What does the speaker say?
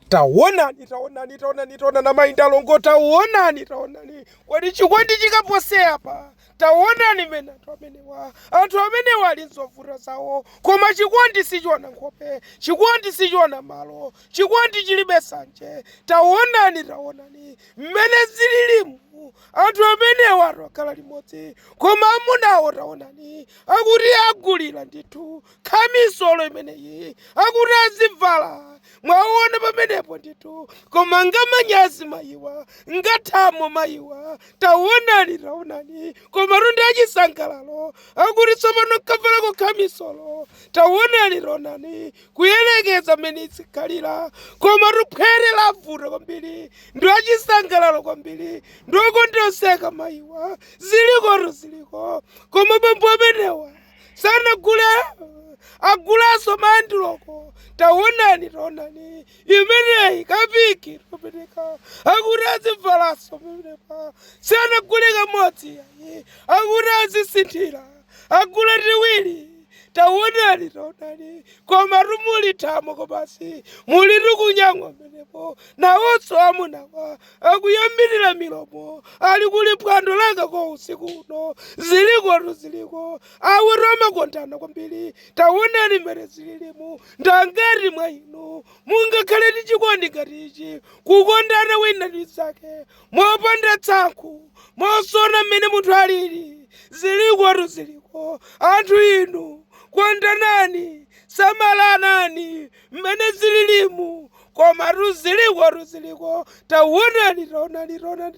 Taonani, taonani, taonani, taonani amayi ndi alongo, taonani, taonani. Kodi chikondi chikapose apa? Taonani mmene anthu amenewa, anthu amenewa ali nzovuta zawo, koma chikondi sichiona nkhope, chikondi sichiona malo, chikondi chilibe sanje. Taonani, taonani mmene zililimu anthu amenewa atokhala limodzi, koma amunawo taonani akuti agulira ndithu, khamisolo imeneyi akuti azivala mwaona pamenepo ndithu koma ngamanyazi mayiwa ngathamo mayiwa taonani taonani komatu ndi achisangalalo akuti tsopano nkavalako khamisolo taonani taonani kuyerekeza mmene izikhalira komatu phwete lavuta kwambiri ndi achisangalalo kwambiri ndokondoseka mayiwa zilikotu ziliko koma bambo amenewa sanagule agulanso mandiloko taonani taonani imeneyi kapiki toperewera akuti azivalanso pamenepa sanagule kamodzi yayi akuti azisinthira agula tiwiri taonani taonani komatu muli thamo kobasi muli tukunyang'wa pamenepo nawonso amunawa akunyambitira milomo ali kuli phwando langa kwa usiku uno zilikotu ziliko awiriwo amakondana kwambiri taonani mmene zililimu ndi angati mwa inu mungakhale ndi chikondi ngati ichi kukondana wina ndi mnzake mopanda tsankhu mosaona mmene munthu alili zilikotu ziliko anthu inu kondanani samalanani mmene zililimu komatu zilikotu ziliko taonani taonani taonani